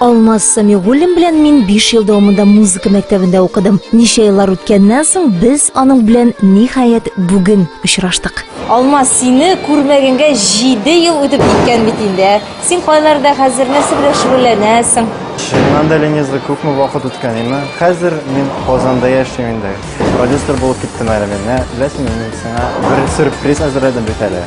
Алмаз Самигуллин белән мин 5 ел дәвамында музыка мәктәбендә укыдым. Ничә еллар үткәннән соң без аның белән ниһаять бүген очраштык. Алмаз, сине күрмәгәнгә 7 ел үтеп киткән бит инде. Ә? Син кайларда хәзер нәрсә белән шөгыльләнәсең? Шуннан да Ленизда күпме вакыт үткән инде. Хәзер мин Казанда яшим инде. Продюсер булып киттем әле мин. Беләсеңме, мин сиңа бер сюрприз әзерләдем бит әле.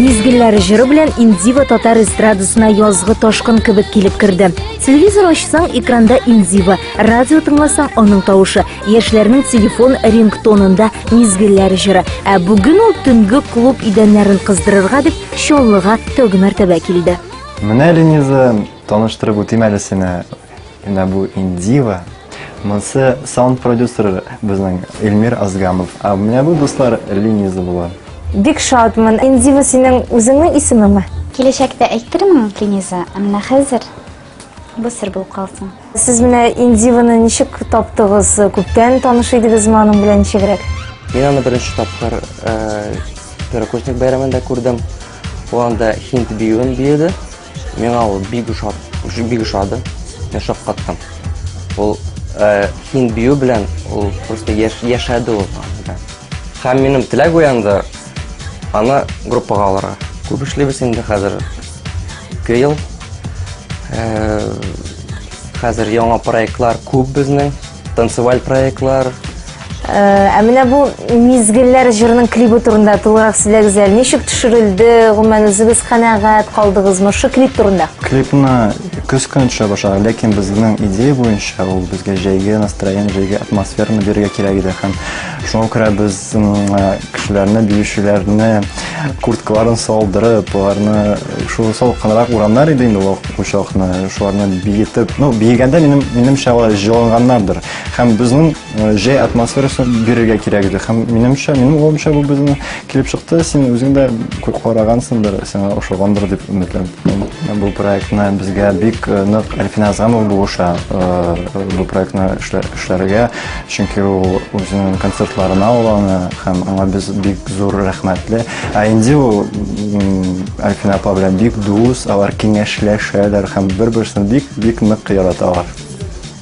Мизгелләре җыры белән Индива татар эстрадасына язгы ташкын кебек килеп керде. Телевизор ачсаң, экранда Индива, радио тыңласаң, аның тавышы, яшьләрнең телефон рингтонында мизгелләре җыры. Ә бүген ул төнге клуб идәннәрен кыздырырга дип Чаллыга тәүге мәртәбә килде. Менә Лениза Таныштырып үтим әле сине. Менә бу Индива. Монсы саунд продюсер безнең Эльмир Азгамов. А менә бу дуслар Лениза була. Бик шатмын. Индива синең үзеңнең исемеңме? Киләчәктә әйтермен, Лениза, ә менә хәзер бу сер булып калсын. Сез менә Индиваны ничек таптыгыз? Күптән таныш идегезме аның белән ничегрәк? Мин аны беренче тапкыр Первокурсник бәйрәмендә күрдем. Ул анда хинт биюен биеде. Миңа ул бик ошады, бик ошады. Мин шаккаттым. Ул э, хин бию белән ул просто яш, яшәде ул. Һәм минем теләк уянды аны группага алырга. Күп эшлибез инде хәзер. Ике ел. Э, хәзер яңа проектлар күп безнең. Танцеваль проектлар. Э, ә менә бу мизгелләр җырының клибы турында тулырак сөйләгез әле. Ничек төшерелде? Гомумән үзегез канәгать калдыгызмы шу клип турында? Клипны көз көне төшә башлады, ләкин безнең идея буенча ул безгә җәйге настроение, җәйге атмосфераны бирергә кирәк иде һәм шуңа күрә без кешеләрне, биючеләрне курткаларын салдырып, аларны шул салкынрак урамнар иде инде ул учакны, шуларны биетеп, ну, биегәндә минем, минемчә алар җыланганнардыр. Һәм безнең э, җәй атмосферасы бирергә кирәк иде. Һәм минемчә, минем уйлымча бу безнең килеп чыкты. Син үзең дә күп карагансыңдыр, сиңа ошагандыр дип өметләнәм. Бу проектны безгә бик э, нык Әлфин Азамов булыша э, бу проектны эшләргә, чөнки ул үзенең концертларына уланы һәм аңа без бик зур рәхмәтле. Ә инде ул Альфина апа белән бик дус, алар киңәшләшәләр һәм бер-берсен бик-бик нык яраталар.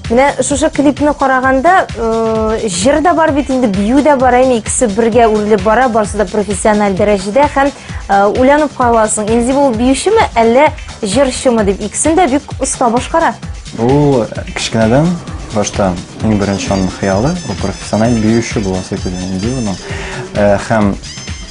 Менә шушы клипны караганда, э, җыр да бар бит инде, бию дә бар, әйме икесе бергә үрелеп бара, барысы да профессиональ дәрәҗәдә һәм э, уйланып каласың, инде ул биючеме, әллә җырчымы дип, икесен дә бик оста башкара. Ул кечкенәдән башта иң беренче аның хыялы, ул профессиональ биюче буласы килгән инде ул. Э, һәм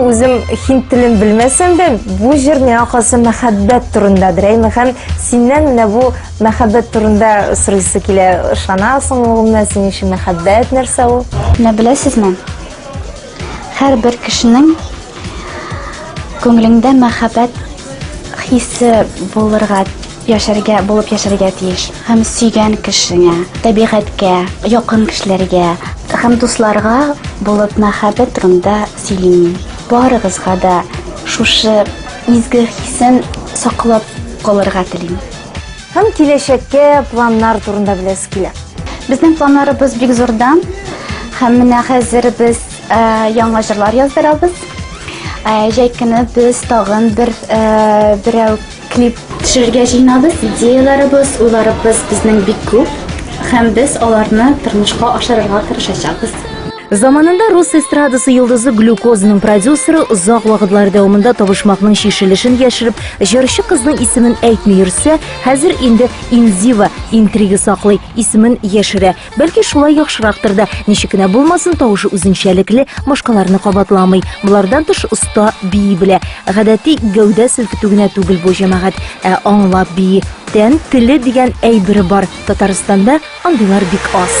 Үзем хин телен белмәсәм дә, бу җыр миңа калса мәхәббәт турындадыр. Әйме һәм синнән менә бу мәхәббәт турында сорыйсы килә. Ышанасың улымна, синең өчен мәхәббәт нәрсә ул? Менә беләсезме? Һәрбер кешенең күңелендә мәхәббәт хисе булырга Яшәргә, булып яшәргә тиеш. Һәм сөйгән кешеңә, табигатькә, якын кешеләргә һәм дусларга булып мәхәббәт турында сөйлим мин. Барыгызга да шушы изге хисен саклап калырга телим. Һәм киләчәккә планнар турында беләсе килә. Безнең планнарыбыз бик зурдан. Һәм менә хәзер без яңа җырлар яздырабыз. Җәй көне без тагын бер берәү Клип төшерергә җыйнабыз, идеяләребез, уйларыбыз безнең бик күп һәм без аларны тормышка ашырырга тырышачакбыз. Заманында рус эстрадасы йолдызы Глюкозаның продюсеры озак вакытлар дәвамында табышмакның чишелешен яшереп, җырчы кызның исемен әйтми йөрсә, хәзер инде Инзива интрига саклый, исемен яшерә. Бәлки шулай яхшырактыр да, ничек кенә булмасын, тавышы үзенчәлекле, башкаларны кабатламый. Болардан тыш оста бии белә. Гадәти гәүдә селкетү генә түгел бу җәмәгать, ә аңлап бии. Тән теле дигән әйбер бар. Татарстанда андыйлар бик аз.